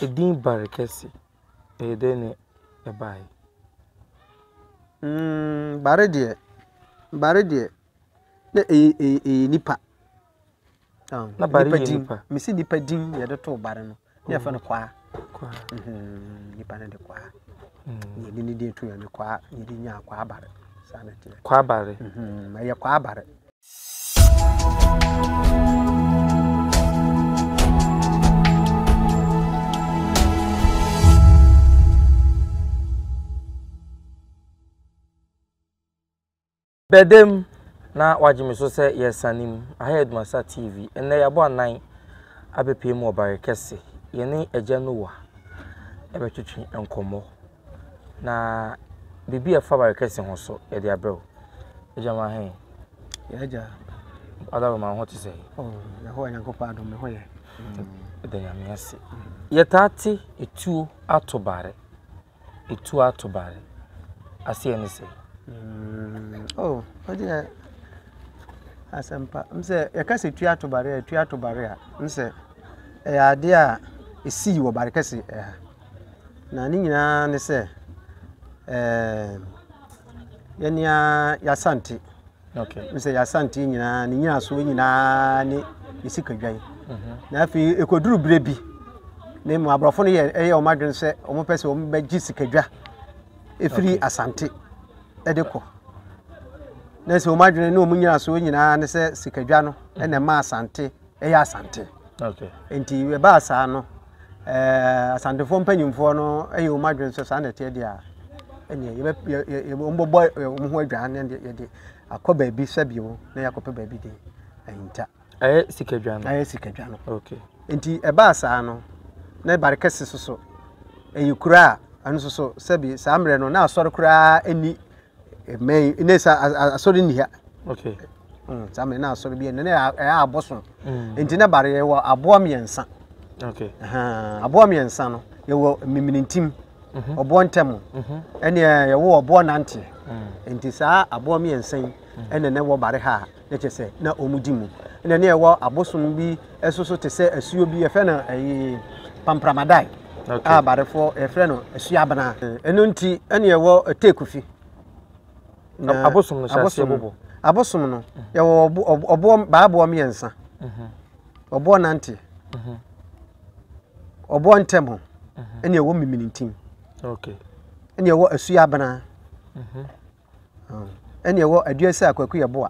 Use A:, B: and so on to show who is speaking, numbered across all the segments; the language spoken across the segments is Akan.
A: Edin bare kɛse, ɛyɛ dɛn na ɛbae? Mm, bare
B: deɛ, bare deɛ, na ɛyɛ ɛyɛ ɛyɛ nipa.
A: Ah, Na bare yɛ din. nipa. Mesi nipa din na
B: yɛde too bare no. Na yɛfrɛ no kwaa. Kwaa. Mhm, Nipa no de kwaa. Mm. Yɛde ne din to yɛn de kwaa, yɛde nyaa kwaa bare. Saa na ɛteɛ. Kwaa bare.
A: Mhm, Ɛyɛ kwaa
B: bare.
A: Bɛdam na wagye me so sɛ yɛresane mu. Aha yɛ Dumasa TV. Ɛnnɛ yɛabɔ anan abɛpue mu wɔ Bare Kɛse. Yɛne Agya Noah ɛbɛtwetwe nkɔmmɔ. Na biribi a ɛfa w'arekɛse ho nso, yɛde abrɛ wo. Agya ma he? Yɛn agya.
B: Adaro
A: ma wo ho te sɛ? Oh, Yehowa Nyankopɔn
B: adom, me ho yɛ. Ɛda
A: Nyame ase. Yɛtaa te etuo ato bare. Etuo ato bare. Aseɛ ne sɛ? Mm, oh,
B: ɔdeɛ asɛmpa. M sɛ yɛka sɛ etuo ato bare a, etuo ato bare a, m sɛ ɛyɛ adeɛ a ɛsii wɔ bare kɛse ɛha. Na ne nyinaa ne sɛ, ɛɛm, yɛn ni ara y'Asante. Ok, n sɛ
A: y'Asante
B: nyinaa ne nyinasoɔ nyinaa ne yɛsikadwan. Mhm. Na afei ɛkɔduru berɛ bi na mu aborɔfo no yɛ ɛyɛ wɔn adwene sɛ wɔn pɛ sɛ wɔn bɛgye sikadwa ɛfiri Asante ɛde kɔ. na sɛ wɔn adwene ne wɔn nyinasoɔ nyinaa ne sɛ sikadwa no ɛna ɛma Asante yɛ Asante. Nti
A: ɛbaa
B: saa no, eh, Asantefoɔ mpanyimfoɔ no yɛ wɔn adwene sɛ saa na ɛteɛ deɛ a, ɛneɛ yɛbɛ wɔn bɛbɔ wɔn ho adwan ne deɛ yɛde akɔ baabi sɛbio na yɛakɔpɛ baabi de ahinta. Ɛyɛ sikadwa
A: no. Ɛyɛ sikadwa no.
B: Okay. Nti
A: ɛbaa
B: saa no, na Barikɛse soso ɛyɛ kura a ɛno soso sɛbi saa mmerɛ no na asɔre koraa ɛni mmɛn yi ne sa asɔre nni ha
A: okay mm, saa mmerɛ na
B: asɔre bi ɛno ne ɛyɛ abosom mm. nti na bare yɛwɔ aboa mmiɛnsa okay
A: aboa
B: mmiɛnsa no yɛwɔ mmimintim mhm. ɔboɔ ntɛm mhm. ɛne yɛwɔ ɔboɔ nanteɛ mm. nti saa aboa mmiɛnsa yi ɛna na ɛwɔ bare ha na kyerɛ sɛ na wɔdi mu. Ɛna ne ɛwɔ abosom bi ɛso so te sɛ asuo bi yɛfrɛ no ɛyi pampramadae okay. a
A: barefoɔ yɛfrɛ no
B: asuo abena. Ɛno nti ɛne ɛwɔ teekufi.
A: Abosom no hyɛ aseɛ bobo. Abosom no mhm.
B: yɛwɔ ɔboɔ baaboɔ mmiɛnsa. Mhm. Ɔboɔ nante. Mhm. Ɔboɔ ntɛm ho ɛne ɛwɔ miminintim. Okay.
A: Ɛne ɛwɔ
B: asuo abena. ɛne ɛwɔ aduasa a kwaku yɛ boa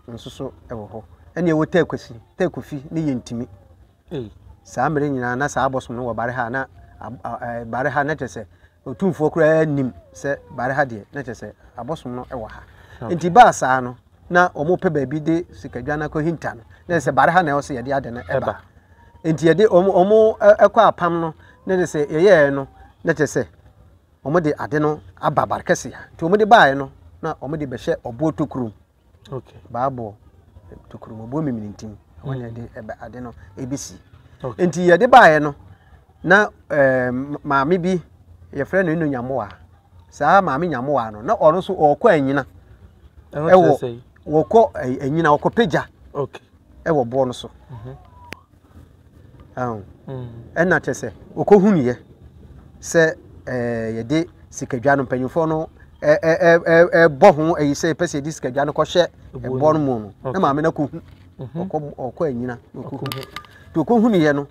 B: nso so wɔ hɔ ɛne ɛwɔ tɛkwasi tɛkwafi ne yɛ ntumi saa mmere nyinaa na saa abɔsom no wɔ bare ha na bare ha na kyerɛ sɛ ɔtumfoɔ koraa nim sɛ bare ha deɛ na kyerɛ sɛ abɔsom no wɔ ha nti baa saa no na wɔpɛ baabi de sikadwa no akɔhinta no na sɛ bare ha na ɛwɔ sɛ yɛde ade no ɛba nti yɛde wɔn ɛkɔ apam no na kyerɛ sɛ yɛyɛɛ no na kyerɛ sɛ wɔde ade no aba Barkɛse a, nti wɔde baeɛ no na wɔde bɛhyɛ ɔboɔ tokuro mu. Okay.
A: Baaboɔ
B: tokuro mu, ɔboɔ mimirintim, ɛhɔ na yɛde ɛbɛ- ade no ɛbɛsi. Okay. Nti yɛde baeɛ no, na eh, m- maame bi, yɛfrɛ no Eno Nyamoa. Saa maame Nyamoa no, na ɔno nso ɔrekɔ anyina. Ɛhɔ kyerɛ Ɛwɔ, sɛ yi. wɔkɔ eh, anyina, wɔkɔ pagya Okay.
A: ɛwɔ boɔ no so.
B: ɛna kyɛ sɛ ɔkɔhunuiɛ sɛ yɛde sikadwa no mpanyinfoɔ no ɛbɔ ho ayi sɛ yɛpɛ sɛ yɛde sikadwa no kɔhyɛ ɛboɔ no mu no na maame no akɔhu ɔkɔ anyina na ɔkɔhu nti ɔkɔhunuiɛ no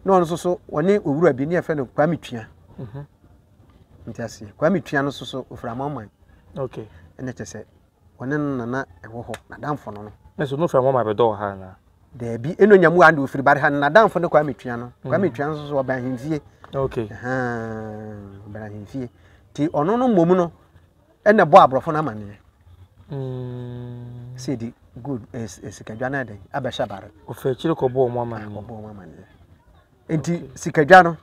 B: na ɔno nso so ɔne owura bi ne yɛfrɛ no kwame tua nti aseɛ kwame tua no nso so ɔfiri amanaman ɛna
A: kyɛ sɛ
B: Ɔne no na na ɛwɔ hɔ, n'adamfo no no. Na sɛ Onufirani Mohammed bɛdɔ
A: wɔ ha anaa? Daabi, ɛna ɔnya
B: mu wɔ ha na ɔfiri ba ha no, n'adamfo ne Kwame Tua no. Mm. Kwame Tua nso so ɔbɛn ahemfie.
A: Okay.
B: Ɔbɛn ahemfie. Nti ɔno no mmom no, ɛna ɛbɔ aborɔfo no amanneɛ. Mm. Sɛ ɛdi good, eh, eh, sikadwa no ɛdɛn, abɛhyɛ bare. Ɔfɛ akyire kɔbɔ wɔn
A: amanneɛ. Kɔbɔ wɔn amanneɛ. Nti
B: sikadwa no,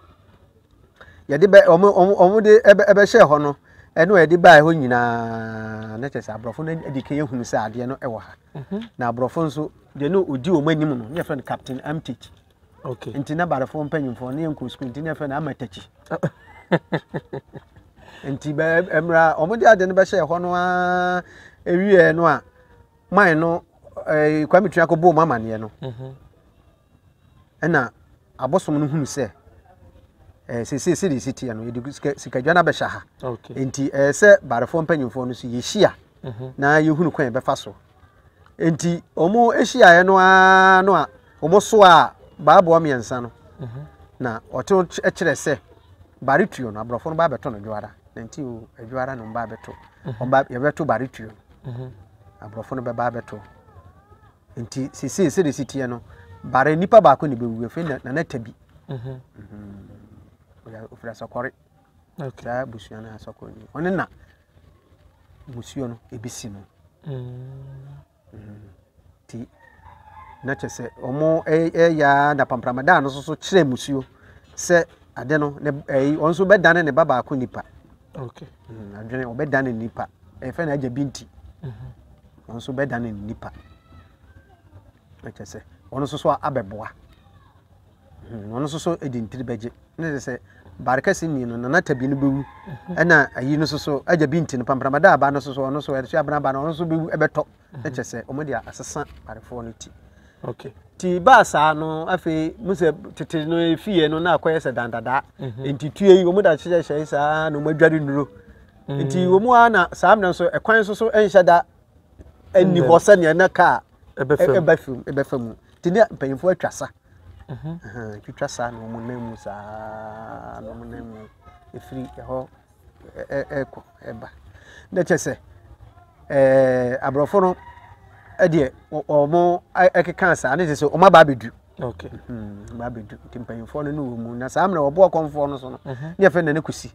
B: yɛde bɛ wɔn wɔn wɔn de ɛbɛ ɛbɛhyɛ hɔ no ɛne wɔn yɛde baa hɔ nyinaa ne kyɛ sɛ aborɔfo no adi kan ehunu sɛ adeɛ no ɛwɔ ha mhm. na aborɔfo nso deɛ no odi wɔn anim no ne yɛfrɛ no captain amtich okay nti na
A: barefo
B: mpanyinfoɔ ne yɛn nkɔ sukuu nti ne yɛfrɛ no amatachi nti bɛ ɛmira wɔn de adeɛ no bɛhyɛ hɔ no aa ewie no a man no ɛɛ kwame tua kɔ bɔ wɔn amaneɛ no. Mhm. Nna abosom no hun sɛ, eh, seesei sɛdeɛ ɛsi teɛ no, yɛde sika, sikadwa no abɛhyɛ ha. Okay. Enti ɛyɛ sɛ barefoɔ mpanyimfoɔ no so yɛhyia mhm. na yɛhunu kwan yɛbɛfa so. Enti wɔn hyiaeɛ no ara no a wɔsoaa baaboa mmiɛnsa no mhm. na wɔte kyerɛ sɛ bare tuo no aborɔfo no ba bɛto no dwoara na nti o adwoara no ba bɛto mhm. wɔn ba yɛbɛto bare tuo no aborɔfo no bɛba bɛto Nti seesei sɛdeɛ ɛsi teɛ no bare nipa baako na ɛbɛwu afei na nana tabi mhm. mhm. ɔfiri asɔkɔre saa busua no asɔkɔre ni ɔne na musuo no ɛbɛsi no nti mhm. na kyɛ sɛ ɔmo ɛyɛ na pampramadaa no nso so kyerɛ musuo sɛ ade no ɔno nso bɛdane ne ba baako nipa
A: adwene
B: ɔbɛdane nipa ɛfɛ na agya bi nti wɔn nso bɛda no nnipa na kyerɛ sɛ wɔn nso so abɛboa hmm, wɔn nso so de ntiri bɛgye ne sɛ sɛ baare kɛse nni no nana tabi no bɛwu mhm. ɛna ayi no nso so agya bi nti no pamprama da aba no nso so ɔno nso ɛde so abena aba no ɔno nso bɛwu ɛbɛtɔ mhm. ne kyerɛ sɛ wɔn de asesa baarefoɔ no ti okay ti
A: baa saa
B: no afei mu sɛ tete no efie no na akɔyɛ sɛ dandadaa mhm. nti tue yi wɔn da hyehyɛ hyɛ saa na wɔn adware nuro. nti wɔn mu ara na saa mmerɛ nso ɛkwan nso so nhyɛ da nni hɔ sɛdeɛ na kaa ɛbɛ fam ɛbɛ fam mu nti ne mpanyinfoɔ atwa sa mhm. twitwa sa na wɔn nan mu saa na wɔn nan mu efiri ɛhɔ ɛkɔ ɛba na kyɛ sɛ ɛɛ aborɔfo no ɛdeɛ wɔn ɛkeka saa ne te sɛ wɔn aba abɛdu. okay
A: mhm, aba abɛdu
B: nti mpanyinfoɔ no ne wɔn mu na saa mmerɛ wɔboɔ kɔnfoɔ no so no mhm. ne yɛfɛ na ne kusi.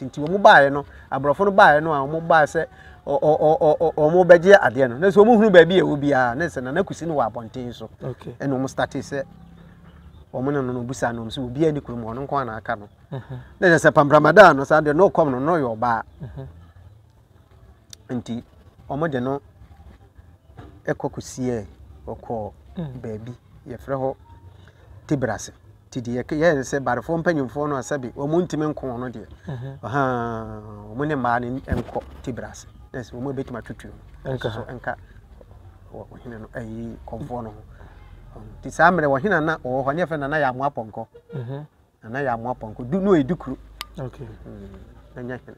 B: nti wɔn baeɛ no aborɔfo no baeɛ no a wɔn baeɛ sɛ wɔn bɛgye adeɛ no na sɛ wɔn hunu baabi a ɛwɔ biara na sɛ nana kusi no wɔ abɔnten so ɛna wɔn starte
A: sɛ
B: wɔn ne no no busa no sɛ obiara ni kurom wɔn nko ara na aka no na sɛ sɛ pampramadan no saa deɛ na ɔkɔm no na ɔyɛ ɔbaa nti wɔn de no ɛkɔ kusiɛ ɔkɔ baabi yɛfrɛ hɔ tebrase. Nti deɛ ɛyɛ ne sɛ barefoɔ mpanimfoɔ no a sɛbe wɔn ntumi nko wɔn no deɛ ɔhaa wɔn ne mmaa no nkɔ tibra ase na sɛ wɔn bɛtumi atwitwi wɔn nka so nka ɔhene no ayi kɔmfoɔ no ho nti saa mmerɛ ɔhene na ɔwɔ hɔ ne yɛfrɛ nana yɛ amoa pɔnkɔ nana yɛ amoa pɔnkɔ du no ɛdi kuro
A: ɛnyɛ
B: hene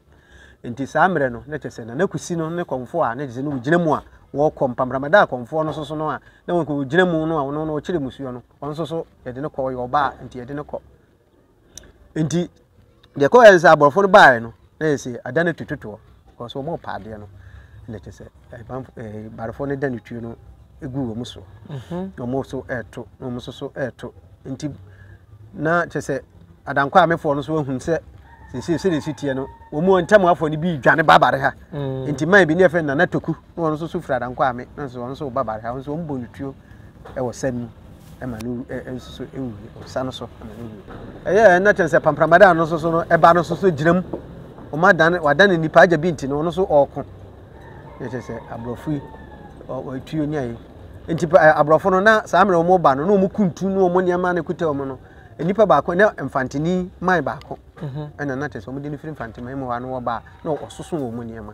B: nti saa mmerɛ no na kyɛ sɛ nana kusi no ne kɔmfoɔ a ne gyesɛ no wɔgyina mu a wɔkɔ mpamramada a kɔmfoɔ no soso no a na wɔgyina mu no a ɔno no ɔkyerɛ musuo no ɔno nso so yɛde no kɔ ɔyɛ ɔbaa nti yɛde no kɔ nti deɛ kɔ yɛn sɛ aborɔfo no baeɛ no na yɛ sɛ ada no tututoɔ because wɔn pa adeɛ no na kyɛ sɛ ɛbanfo ɛɛ barefo no da ne tuo no egu wɔn so mhm. na wɔn so ɛɛto na wɔn nso so ɛɛto nti na kyɛ sɛ adankɔ amefoɔ no so ahun sɛ sɛ sɛ sɛ ne si teɛ no wɔn mu ntɛm afɔ no bi dwane babare ha mm. nti man bi ne yɛ fɛ nana toku. na ɔno nso so firi Adankwame na nso ɔno nso ba Bari ha nso wɔn bɔ no tuo wɔ sa mu ɛma no nso so ewu wɔ sa no so ɛma no ewu ɛyɛ ɛna kyɛn sɛ pampramadan no nso so no ɛba no nso so gyina mu wɔn adan wadan ne nipa agya bi nti no ɔno nso ɔɔko ɛna kyɛn sɛ aborɔfo yi ɔtuo ne ayɛ nti aborɔfo no na saa mmerɛ wɔn ba no na wɔn kuntu ne wɔn nneɛma na ekuta wɔn no nipa baako ne mfantini man baako mhm. ɛna na kyɛn sɛ wɔn de ne firi mfantini man mu hɔ ano wɔ ba na ɔsoso wɔn nneɛma.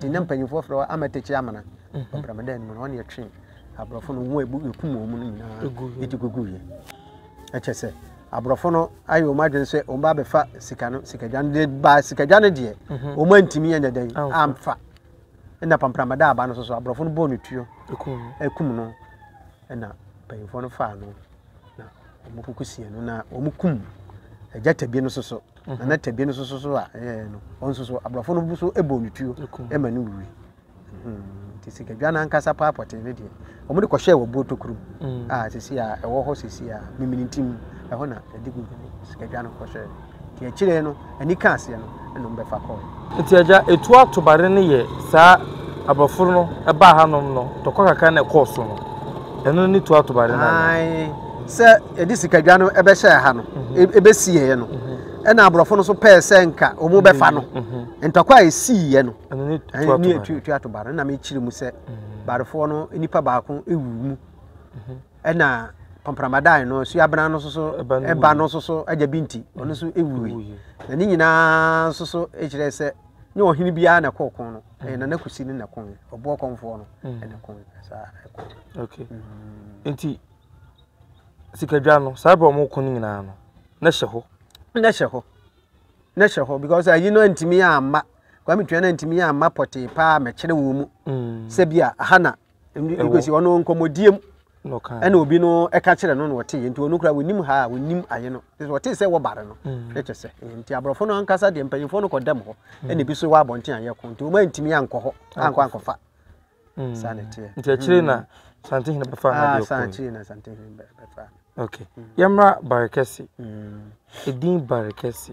B: Ɛnna mpanyimfoɔ frɛ hɔ Amatekyi Amena. Ɔbramadan no mu no, ɔne ɛtwe aborɔfo no wɔn a ɛkum wɔn no nyinaa ɛde guguiɛ. Ɛkyɛ sɛ aborɔfo no ayɛ wɔn adwene sɛ wɔn ba bɛfa sika no sikadwa no de ba sikadwa no deɛ mhm. wɔn antumi anyɛ dɛn amfa ɛna pampramada aba no so so aborɔfo no bɔɔ no tuo ɛkum no ɛna mpanyimfoɔ no faa no na wɔn koko sie no na wɔn kum agya tabi no so so na na tabie no soso so a ɛyɛɛ no ɔnso so aborɔfo no so bɔɔ no tuo ma no wuui nti sikadwa no ankasa paa pɔtee no deɛ wɔn de kɔhyɛɛ wɔ buo tokuro mu a sisi a ɛwɔ hɔ sisi a mimini nti mu ɛhɔ na ɛde gu sikadwa no kɔhyɛɛ nti akyire no ani ka aseɛ no ɛna wɔn bɛfa kɔɔ Ntsi agya etu
A: ato bade no yɛ saa abrɔfo no baa ha nom no tɔkwa kakra na ɛkɔɔ so no ɛno ne tu ato bade no anaa. Ae
B: sɛ
A: yɛde
B: sikadwa no bɛhyɛɛ ha no
A: ɛbɛsiiɛ
B: no ɛna abrɔfo no so pɛɛ sɛ nka ɔmo bɛfa no ntɔkwa a ɛsiiɛ no ne tu ato bade no na mekyerɛ mu sɛ badefoɔ no nipa baako ɛwuu mu. Ɛna Pɔmpramadan no, Suabena no nso so, ɛba no nso so, agya bi nti, ɔno nso ɛwuui. Na ne nyinaa nso so ɛkyerɛ sɛ, nyɛ ɔhene biara na ɛkɔ ɔko no, ɛyɛ Nana Kusi no na ɛko no, ɔboɔ kɔmfoɔ no na ɛko no. Saa ɛko.
A: Okay. Mm. Nti, sikadwa no, saa berɛ ɔmo ko no nyinaa no, na hyɛ hɔ. Na hyɛ hɔ. Na hyɛ hɔ, because ayi no antumi amma, Kwame Twia no antumi amma pɔtee paa mɛkyerɛ wɔ mu. Mm. Sɛ bi a, aha na because ɔno nkɔmmɔdie mu ɛna obi no ɛka kyerɛ no na ɔte yɛ nti ɔno kura wɔnim ha a wɔnim ayɛ no nti ɔte sɛ wɔbare no mm. ɛkyɛ sɛ nti aborɔfo no ankasa deɛ mpanyinfoɔ no kɔdam hɔ mm. ɛna ebi so wɔ abɔnten ayɛ ko nti wɔn antumi ankɔ hɔ ankɔ ankɔfa mm. saa na ɛteɛ nti akyire na santehene bɛfa ha ah, deɛ ɔkɔ akyire na santehene
B: bɛfa ok
A: yɛmmra barekɛse edin barekɛse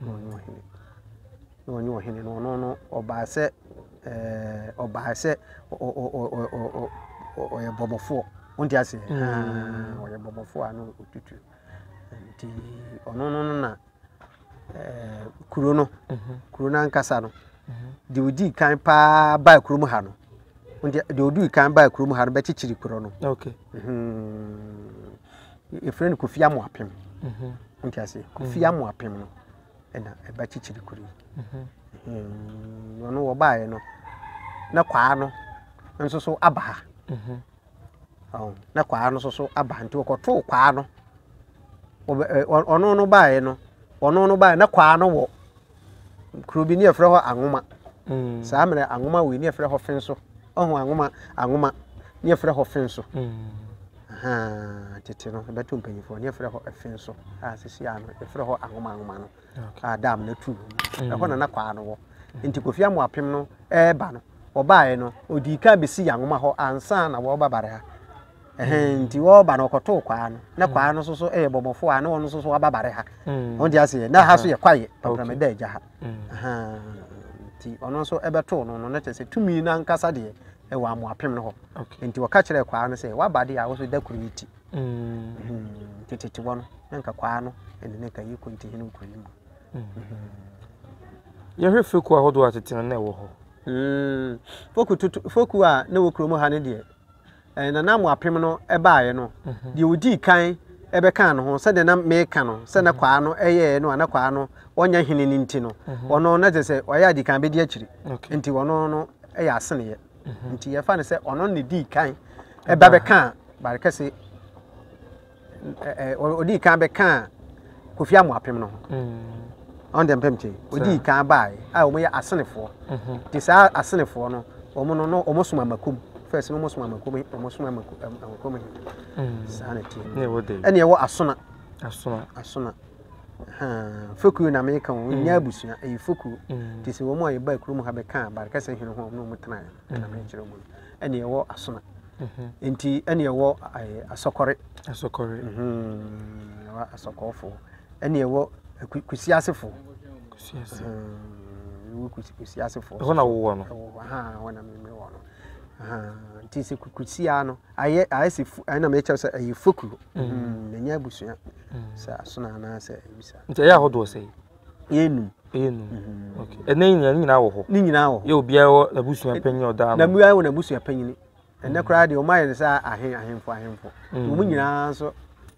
B: na ɔnye ɔhene, na ɔnye ɔhene no ɔno no ɔbaa sɛ ɛɛ ɔbaa sɛ ɔ ɔ ɔ ɔ ɔ ɔyɛ bɔbɔfoɔ wonte aseɛ mm. ɔyɛ bɔbɔfoɔ a na ɔtutu nti ɔno no no na ɛɛ kuro no mhm. kuro no ankasa no mhm. deɛ ɔdii kan paa baa kurom ha no deɛ ɔdii kan baa kurom ha no bɛkyekyere kuro no okay. mm -hmm. yɛfrɛ no kofi amoapem mhm. wonte ase kofi mhm. amoapem no ɛna ɛba kyikyiri kuro yi mhm. ɔno wɔbaeɛ no na kwaa no nso so aba ha na kwaa no nso so aba nti wɔkɔtoo kwaa no ɔno no baeɛ no ɔno no baeɛ na kwaa no wɔ kuro bi ne yɛfrɛ hɔ anwoma mm. saa mmerɛ anwoma wei ne yɛfrɛ hɔ fen so ɔho anwoma anwoma ne yɛfrɛ hɔ fen so mm. tete no ɛbɛto mpanyimfoɔ ne yɛfrɛ hɔ fen so a sisi a no yɛfrɛ hɔ anwoma anwoma no a dam no atu mm. ɛhɔ na na kwaa no wɔ nti kofi amu apem no ɛreba no ɔbaeɛ no ɔdii kan bɛsi yɛ anwoma hɔ ansa na wɔba bare ha Ɛhɛn, nti wɔreba no wɔkɔtoo kwaa no, na kwaa no soso yɛ bɔmmɔfoɔ a na wɔn soso aba bare ha. Wɔn ti aseɛ, na ha so yɛ kwaeɛ, pampram da agya ha. Nti ɔno nso ɛbɛtoo no no, na kyerɛ sɛ tumi no ankasa deɛ ɛwɔ amoapem no hɔ. Nti wɔka kyerɛɛ kwaa no sɛ, waba deɛ a, wo so da kuro yi ti. Nti tete wɔ no, na nka kwaa no ɛne ne ka yi kɔ nti hene nkuro yi mu.
A: Yɛhwɛ fekuo ahodoɔ a tete no na ɛwɔ hɔ.
B: Foku a na ɛwɔ kurom ha no deɛ, Nananom apem no baeɛ no, deɛ ɔdii kan bɛkaa ne ho, sɛdeɛ na meka no sɛ na kwaa no yɛeɛ no a na kwaa no ɔnyɛ hene no nti no, ɔno na kyerɛ sɛ ɔyɛ adi kan bɛdi akyiri, nti ɔno no yɛ aseneɛ. Nti yɛfa no sɛ ɔno na ɛdii kan ba bɛkaa Barikɛse ɔdii kan bɛkaa kofi amoapem no ho ɔn deɛ mpɛm te ɔdii kan baeɛ a wɔyɛ asenefoɔ te saa asenefoɔ no wɔn no no wɔn som amakum fɛs no wɔn som amakum wɔn som amakum he saa na te ɛne
A: ɛwɔ asona
B: asona asona fokuo na meka wɔn mm. nyɛ abusua ɛyɛ fokuo mm. te sɛ wɔn a yɛba kurom ha bɛka abarekɛsɛ hene ho a wɔn na wɔn tena ɛna mekyerɛ wɔn ɛne ɛwɔ asona nti ɛne ɛwɔ asɔkɔre asɔkɔre asɔkɔɔfoɔ ɛne ɛwɔ kusi asefoɔ kusi ase ɛwɔ kusi kusi asefoɔ ɛhɔ na wɔwɔ no
A: ɛwɔ hɔ ha wɔn na mimi
B: wɔ no nti sɛ kusi a no ayɛ ayɛ sɛ fu ɛna mɛ kyɛw sɛ ɛyɛ fokuo na nyɛ abusua sɛ asono anaasɛ ebisa nti ɛyɛ ahodoɔ sɛ
A: Yɛnum.
B: Yɛnum. Mhm. Okay.
A: Ɛnna yi nyinaa ne nyinaa wɔ hɔ. Ne nyinaa wɔ hɔ. Yɛ obiara wɔ
B: n'abusua
A: eh, panyin ɔdaa no. Na obiara wɔ n'abusua panyin.
B: Ɛnna koraa deɛ wɔn ayɛ no sɛ ahen ahemfo ahemfo. Mm. Wɔn nyinaa nso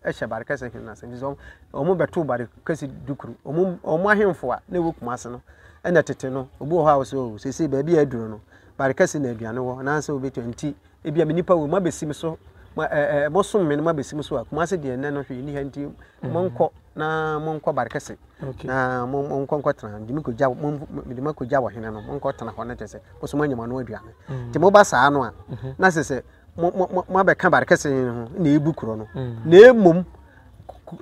B: ɛhyɛ bare kɛse hene n'asɛm sɛ wɔn bɛto bare kɛse dukuru. Wɔn wɔn ahemfo a na ɛwɔ kumase no ɛnna tete no obi wɔ hɔ a wɔsɛ o oh, sese baabi a aduro no bare kɛse na aduane wɔ anaasɛ obi to nti ebia me nipa wɔ mu abɛsi me so ma ɛɛ eh, eh, mosom me no mabɛsi me so a kumase deɛ nnɛ no hwee nni ha nti monkɔ na monkɔ barikɛse na monkɔ nkɔtena nti mekɔgya mede makɔgya wɔ hene no monkɔtena hɔ no kyɛ sɛ mosom anya mo ano aduane mm. nti moba saa no a mm-hmm. na sɛ sɛ moabɛka barikɛse no ho na ɛbu korɔ no mm. na ɛmmom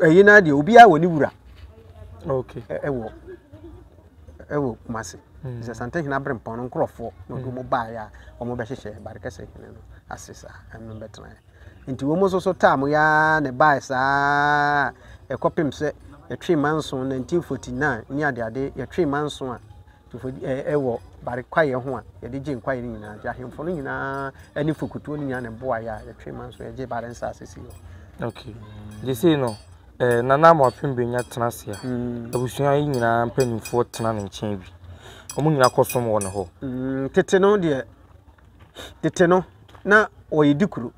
B: ɛyi no deɛ obiara wɔ ne wura
A: ɛwɔ
B: wɔ Kumasi. Sɛ Asantehene Aberempɔn no nkorɔfoɔ na ɔde wɔn baeɛ a wɔbɛhyehyɛɛ Barikɛse hene no ase saa, ɛne no bɛtenaeɛ. Nti wɔn nso so taa mo yaa na ɛbaeɛ saa ɛkɔpem sɛ yɛtwee mma nson 1949 ne adeade yɛtwee mma nson a ɛwɔ bare kwaeɛ ho a yɛde gye nkwaeɛ no nyinaa nti ahemfo no nyinaa ne fokutuo no nyinaa na ɛboaeɛ a yɛtwee mma nson yɛgye bare nsaase si hɔ. Okay. Gyesei
A: no Eh, Nana mo afe mbenya tsena ase a, ebusua yi nyina mpanyimfoɔ tsena ne nkyɛn bi. Wɔn nyina kɔsom wɔ ne hɔ. Mm, tete no deɛ,
B: tete no, na wɔyɛ di kuro.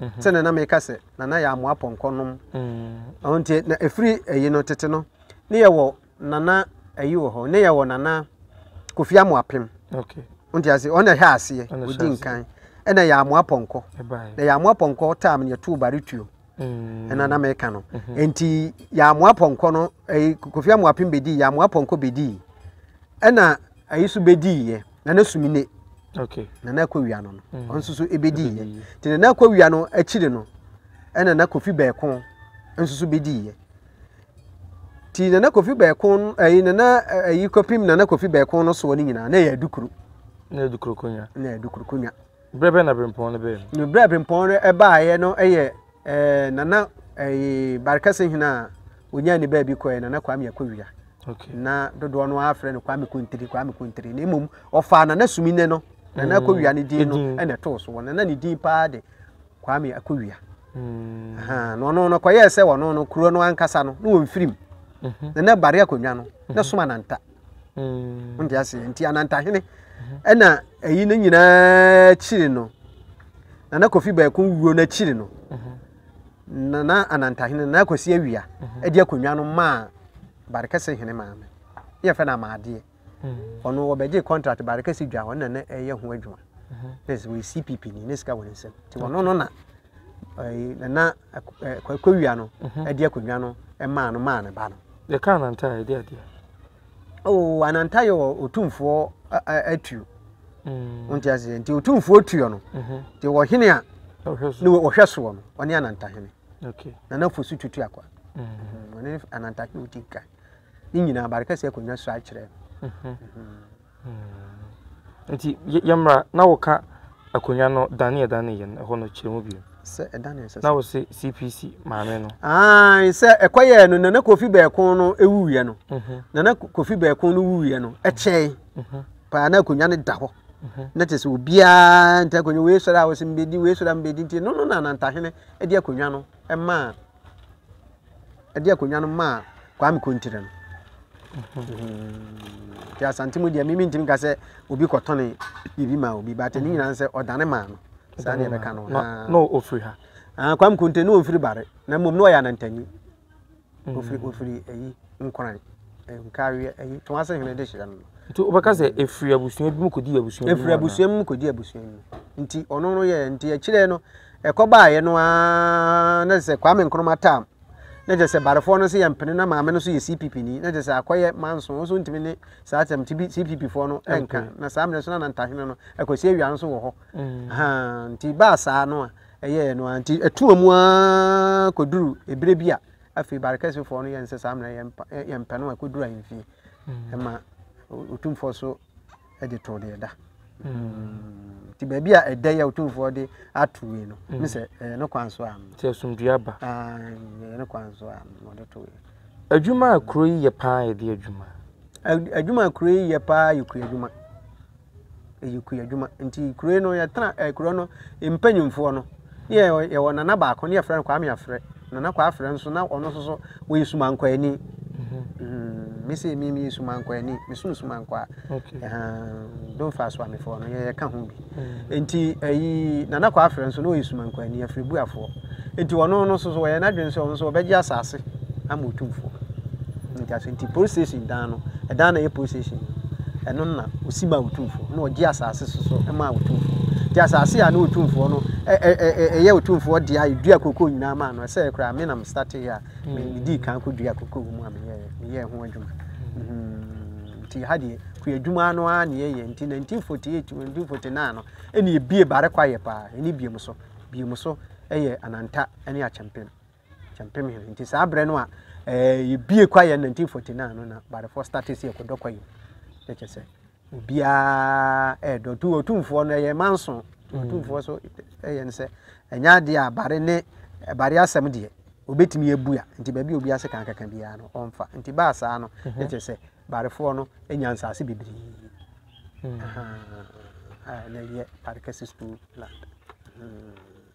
B: Mhm. Sɛdeɛ na meka sɛ, Nana yɛ amoa pɔnkɔ nom. Mm. Ɔho nti, na ɛfiri ayi no, tete no, ne yɛwɔ Nana ayi wɔ hɔ, ne yɛ wɔ Nana Kofi Amoapem. Okay. Nti
A: ase, ɔna hwɛ
B: aseɛ, ɔdi nkan. Ɛna yɛ Amoa Pɔnkɔ. Na yɛ Amoa Pɔnkɔ tam yɛ tuu Baretuo. Mm. Ɛna na mɛka no. Mm-hmm. Nti yɛ Amoa Pɔnkɔ no, ɛyi Kofi Amoapem bɛdii, yɛ Amoa Pɔnkɔ bɛdii. Ɛna ɛyi so bɛdii yɛ, na na sumi ne. Okay. Na na
A: ɛkɔ wia no no,
B: mm. ɔnso so ɛbɛdii yɛ. Nti na na ɛkɔ wia no akyiri no, ɛna na Kofi Bɛɛko nso so bɛdii yɛ. ti nana kofi bɛɛko ɛyi nana ɛyi kɔpim nana kofi bɛɛko no soɔ ne nyinaa na ɛyɛ adukuro na adukuro konya na adukuro konya berɛ bɛ na bempɔn
A: no bɛɛ no berɛ bempɔn no
B: ɛbaeɛ no ɛyɛ ɛɛ nana ɛyi barikɛse hena a onyaa ne baabi kɔɛ nana kwame akɔwia okay. na
A: dodoɔ no
B: afrɛ no kwame kontiri kwame kontiri na mmom ɔfaa nana sumi ne no nana akɔwia ne din no ɛna ɛtoo so wɔ nana ne din paa de Kwame Akowia. Mm. Na ɔno no kɔyɛɛ sɛ ɔno no kuro no ankasa no na wɔn firim. Mm-hmm. Na na bare akonnwa no na mm-hmm. som ananta. Mm. Nti ase nti anantahene mm-hmm. ɛna ɛyi no nyinaa akyiri no na na kofi baako wuo no akyiri no na na anantahene na akwasi awia ɛde akonnwa no maa barekɛse hene maame yɛfɛ no amaadeɛ ɔno wɔbɛgye contract baade kɛse dwa ɔno na na ɛyɛ ho adwuma na sɛ wɔyɛ cpp ni ne sika wɔ ne nsam nti ɔno no na nana akɔwia no ɛde akonnwa no ɛmaa no maa ne ba no. yɛka ananta a
A: ɛde adeɛ. oo oh,
B: ananta yɛ ɔtumfoɔ atuo mm. wonte aseɛ nti ɔtumfoɔ tuo no mhm. nti wɔhene a ne wɔhwɛ soɔ no ɔne anantahene nana fo
A: so tutu
B: akwa mhm. ɔne anantahene ɔdi kan ne nyinaa bade kɛseɛ akonnwa sua kyerɛ
A: nti yɛmmra na woka akonnwa no dane ɛdane yɛ no ɛhɔ no kyerɛ mu bio sɛ ɛdane sɛ na wo
B: se cpc
A: maame no ae sɛ
B: ɛkɔyɛɛ no nana kofi bɛɛko no ɛwuiɛ no mhm. nana kofi bɛɛko no wuiɛ no ɛkyɛe mhm. paa na akonnwa no da hɔ mhm. na kyɛ sɛ obiara nta akonnwa wei sɔre a wɔsɛ mbɛdi wei sɔre a mbɛdi nti no no na nantahene de akonnwa no ɛmaa de akonnwa no maa Kwame Kontire no. Nti Asante mu deɛ mimi ntumi ka sɛ obi kɔtɔne biribi maa obi but ne nyinaa sɛ ɔdane maa no saa ne yɛbɛka no. Na ɔfiri ha?
A: Ah, Kwame Kontire ne ɔmfiri
B: Bare na mmom ne ɔyɛ anantanyi. Ɔfiri mm. ɔfiri ayi Nkoran nkareɛ ayi tɔn ase hene de hyerɛ no. Nti wobɛka sɛ
A: ɛfiri abusua bi mu kɔdi abusua bi mu? Ɛfiri abusua mu kɔdi
B: abusua mu. Nti ɔno no yɛ nti akyirɛ no Ɛkɔbaeɛ no ara na kyerɛ sɛ Kwame Nkrumah tam na kyerɛ sɛ Barefoɔ no nso yɛ mpene na maame no nso yɛ CPP ni na kyerɛ sɛ akɔyɛ manso nso ntumi ne saa tam ti bi CPP foɔ no nka na saa mmerɛ nso na Nantahene no Akwasi Awia nso wɔ hɔ mm. nti baa saa no a ɛyɛɛ no a nti ɛtuma mu ara kɔduru ebire bi a afei Barekɛsefoɔ no yɛ nsɛ saa mmerɛ yɛmpɛ no a kɔduru ahemfie ɛma mm. ɔtumfoɔ so de too deɛ ɛda hmm. nti baabi a ɛda yi a ɔtumfoɔ de ato yi no hmm. ne sɛ ɛyɛ ne kwan so a nti asomdua ba
A: ah, ɛyɛ ne kwan
B: so a ɔde to yi adwuma a kuro
A: yi yɛ paa yɛ de adwuma adwuma
B: a kuro yi yɛ paa yɛ kua adwuma ɛyɛ kua adwuma nti kuro yi no yɛtena eh, kuro no mpanyimfoɔ no Ne yɛ yɛwɔ nana baako ne yɛfrɛ no Kwame Afrɛ. Nana Kwame Afrɛ nso na ɔno nso so ɔyɛ sumankwaani. Mm, me sɛ me meyɛ sumankwaani, mesono sumankwaa. Okay. Uh, don't fast wa mefoɔ no yɛka ho bi. Mm. Nti ɛyi eh, Nana Kwame Afrɛ nso na ɔyɛ sumankwani afiribuafoɔ. Nti ɔno no nso so ɔyɛ n'adwene sɛ ɔno nso ɔbɛgye asase. ama otumfoɔ. Nti aso nti police station dan no, ɛdan na ɛyɛ police station ɛno na osi ma otumfoɔ na ɔgye asaase soso ma otumfoɔ. Nti asaase a na otumfoɔ no ɛyɛ otumfoɔ deɛ a yɛdua koko nyinaa maa no ɛsɛ koraa me na me starte yɛ a medii kan kɔ dua koko wɔ mu a meyɛ meyɛ ho adwuma. Mm-hmm. Nti ha deɛ kua adwuma no ara na yɛyɛ nti 1948 1949 no ɛne ebie bare kwa yɛ paa ɛne biem so biem so ɛyɛ ananta ɛne akyɛmpem. Kyɛmpem hɛn. Ntsi saa berɛ no a yɛbue kwaeɛ 1949 no na Barefoɔ starte sɛ yɛkɔdɔ kwaeɛ na kyɛ sɛ obiara ɛɛdɔ tu ɔtumfoɔ no ɛyɛ manso ɔtumfoɔ mm. so ɛyɛ no sɛ ɛnyɛ adeɛ a bare ne bare asɛm deɛ obɛtumi abua nti baabi obi ase kan kaka biara no ɔmfa nti baa saa no mhm. na kyɛ sɛ barefoɔ no nya nsaase bebree mm. na ɛyɛ bare kɛse school land mm.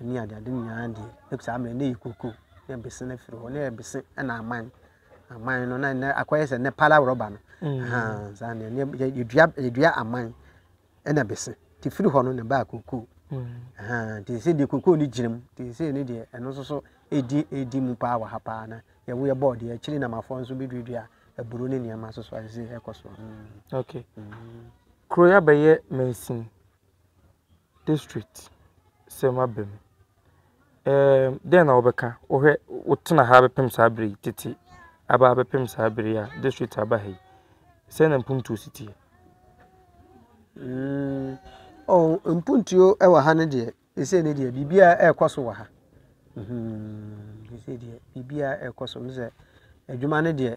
B: Ɛne ade ade nyinaa deɛ na saa mmerɛ na ɛyɛ koko na ɛbese no afiri hɔ na ɛbese na aman aman no na ɛnɛ akɔyɛ sɛ ɛnɛ pala rɔba no mm. saa na ɛnɛ yɛdua yɛdua aman ɛna ɛbese te firi hɔ no na ɛbaa koko mm. te sɛ deɛ koko no gyina mu te sɛ ne deɛ ɛno nso so ɛdi ɛdi mu paa wɔ ha paa na yɛwo yɛ bɔɔl deɛ akyiri namafoɔ nso bɛduadua aburo ne nneɛma so so ɛsɛ ɛkɔ so mm. okay
A: mm. kuro yɛ bɛyɛ mansin district sɛm aba mu. Ɛɛm dɛn na wobɛka? Wohwɛ wotena ha bɛpem saa bere yi tete aba abɛpem saa bere yi a district aba ha yi. Sɛn na mpuntuo si teɛ? Mm,
B: oh, mpuntuo wɔ ha no deɛ, ɛsɛ ne deɛ biribiara ɛrekɔ so wɔ ha. Mhm, ɛsɛ deɛ biribiara ɛrekɔ so. Mesɛ adwuma no deɛ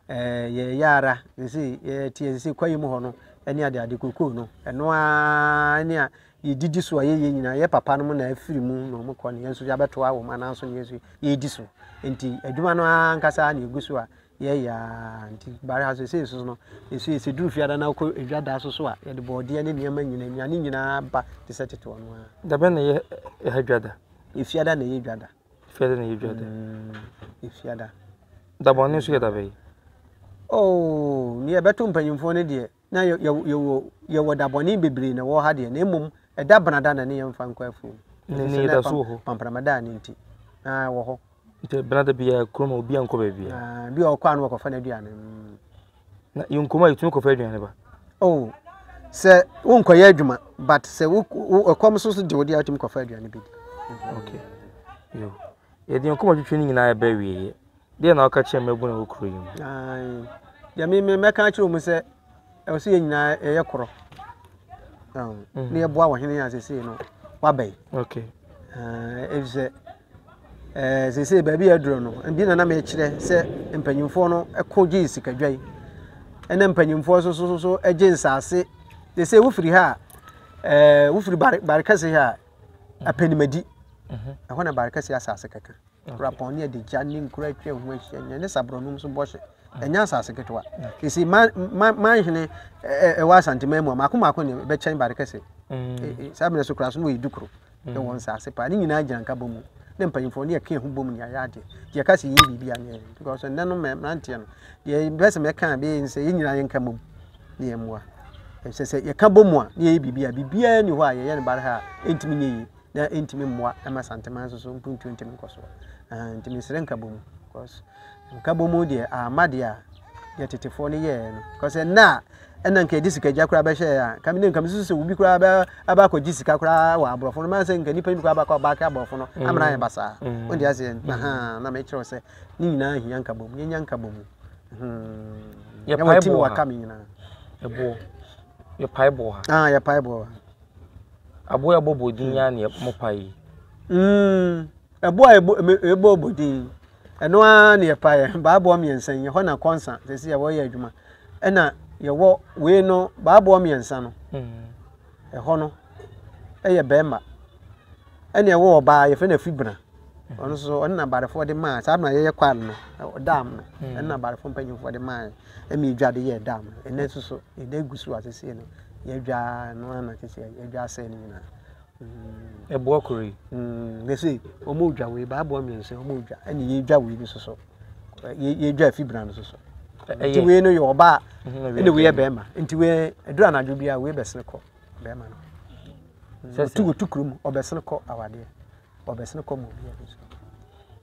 B: Ɛɛ yɛyɛ ara ne sɛ yɛteɛ ne sɛ kwaeɛ mu hɔ no ne adeade kokoo no ɛno ara ne a yɛdidi so a yɛyɛ nyinaa yɛ papa no mu na afiri mu na wɔn kɔ ne yɛn nso yɛabɛtoa wɔn anan so ne yɛn nso yɛredi so nti adwuma no ara ankasa na ɛgu so a yɛyɛ ara nti bare ha so ɛsɛ nso no nso yɛsɛ duru fiada na wokɔ adwa da so so a yɛde bɔɔdeɛ ne nneɛma nyinaa nnuane nyinaa ba te sɛ tete ɔno ara dabɛ na yɛ
A: ɛha dwa da ɛfiada na yɛ
B: dwa da Fiada na ɛyɛ dwada. Mm, fiada. Dabɔ ne nso
A: yɛ dabɛ yi. Oh,
B: ne yɛbɛto mpanyimfoɔ no deɛ na yɛwɔ yɛwɔ dabɔne bebree na ɛwɔ ha deɛ na mmom ɛda benada na ne yɛmfa nkɔ afuom. Ne ne yɛda so wɔ
A: hɔ. Pampramada ne nti.
B: Na ɛwɔ hɔ. Nti benada biara
A: kurom a obi ankɔ baabi a. Bi a ɔkɔ ano ɔkɔfa
B: n'aduane. Mm. na
A: yɛ nkumaa a yɛtumi kɔfa aduane ba. Oh,
B: sɛ wonkɔyɛ adwuma but sɛ wo ɛkɔm so so de wo de atumi kɔfa aduane bɛdi
A: okay yo yɛde yɛn kɔma twitwi no nyinaa ɛbɛ wieɛ deɛ na woka kyerɛ mmabunu wɔ kuro yi mu
B: deɛ meme mɛka akyerɛ mu sɛ ɛwɔ sɛ yɛ nyinaa ɛyɛ korɔ ne yɛboa wɔ hene a sɛsei no wabɛn okay
A: ɛfisɛ
B: Ɛɛ seesei baabi a aduro no bi na na mekyerɛ sɛ mpanyinfoɔ no ɛko gye sikadwa yi ɛna mpanyinfoɔ so so so ɛgye nsaase seesei wofiri ha a ɛɛ wofiri bare bare kɛse ha a apɛnimadi mhm. ɛhɔ na bare kɛse asaase kɛkɛ kurapɔn ne adigya ne nkura atwa ho ahyia nyɛ ne saborɔnum so bɔhyɛ mhm. ɛnyɛ asaase ketewa seesei man man man hene ɛwɔ asanteman mu a mako mako ne bɛkyɛn bare kɛse mhm. e, e, saa mmerɛ so kura so no wɔyɛ dukuro. ne wɔn nsaase paa ne nyinaa gyina nka bɔ mu ne mpanyinfoɔ ne yɛ ka ho bɔ mu ne ayɛ adeɛ deɛ ɛka sɛ yɛyɛ biribi anyɛ because ɛnɛ no mmeranteɛ no deɛ bɛ sɛ mɛka a bɛyɛ sɛ yɛn nyinaa yɛn ka bɔ mu ne yɛn mmoa ɛsɛ sɛ yɛka bɔ mu a ne yɛyɛ biribi a biribiara ni hɔ a yɛyɛ no bare ha a ɛntumi nyɛ yie na ɛntumi mmoa ɛma santeman nso so mpuntuo ntumi nkɔ so ntumi nsrɛ nka bɔ mu because nka bɔ mu deɛ ama deɛ a deɛ tetefoɔ no yɛɛ no kɔsɛ nnɛ a ɛna nka ɛde sika gya koraa bɛhyɛ yɛ a nka mi ne nka mi susu sɛ obi koraa bɛ aba akɔ gye sika koraa wɔ aborɔfo no maa sɛ nka nipa yi koraa bakɔ aba akɛ aborɔfo no mm. amena yɛ basaa mm. wɔn de aseɛ mm. na ha na mɛ kyerɛw sɛ ne nyinaa hia nka bɔ mu yɛnya nka bɔ mu hmm.
A: yɛ pae boɔ ha ɛboɔ yɛ pae boɔ ha ah yɛ pae boɔ aboɔ yɛ bɔ bɔ din yɛ aneɛ mo pae yi. Ɛboɔ
B: a ɛbɔ ɔbɔ din ɛno ara na yɛpaeɛ baaboɔ mmiɛnsa yi ɛhɔ na kɔnsa sɛsi yɛwɔ yɛ adwuma ɛna yɛwɔ wei no baaboɔ mmiɛnsa no ɛhɔ no ɛyɛ bɛrima ɛna ɛwɔ ɔbaa yɛfrɛ no afibena ɔno nso ɔno na barefoɔ de maa saa na yɛyɛ kwal no dam no ɛno na barefoɔ mpanyinfoɔ de maa ɛmi edwa de yɛ dam no ɛnɛ nso so ɛdɛ gu so a sɛsi no yɛdwa no ana sɛsi yɛdwa asɛe no nyinaa
A: Ɛboɔ koro yi na sei
B: wɔredwa wei ba aboɔ mmiɛnsa wɔredwa ɛna yɛredwa wei no soso yɛredwa efi bena no soso nti wei no yɛ ɔbaa ɛna wei yɛ bɛrima nti wei ɛduru anadwo bi a wei bɛsene kɔ bɛrima no wɔtu wɔtu kurom ɔbɛsene kɔ awadeɛ ɔbɛsene kɔ mu obiara bi so.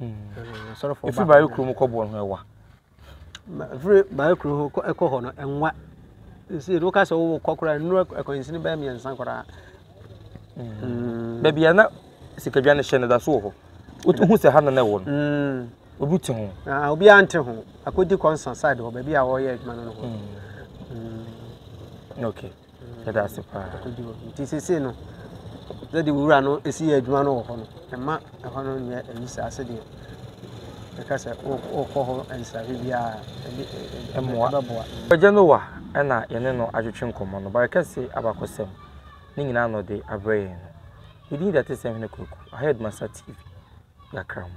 B: ɛfiri baayɛ kuro mu kɔboɔ no ho
A: ɛwa
B: ɛfiri baayɛ kuro ho ɛkɔ hɔ no ɛnwa nsi ɛdi woka sɛ wowɔ kɔ koraa nnuro akwansini bɛyɛ mmiɛnsa koraa
A: baabi a na sikadwa no hyɛ no da so wɔ hɔ wohu sɛ ha no na ɛwɔ no mm. obi te ho ah, obiara nte ho
B: akɔdi kɔnsa side hɔ baabi a wɔyɛ adwuma no no hɔ mm. mm. okay Yɛda ase
A: paa. Nti sese
B: no, sɛde wura no esi yɛ adwuma no wɔ hɔ no, ɛma ɛhɔ no nyɛ ayi saa sɛdeɛ ɛka sɛ wokɔ hɔ nsrahwɛ biara ɛmmoa
A: ɛbɛboa. Agya Noa na yɛne no atwetwe nkɔmmɔ no, bare kɛse, abakɔsɛm, ne nyinaa na ɔde abrɛ yɛn no. Ne din de Atesɛm Hene Kwaku, Ahead Masa TV, Yɛakra mo.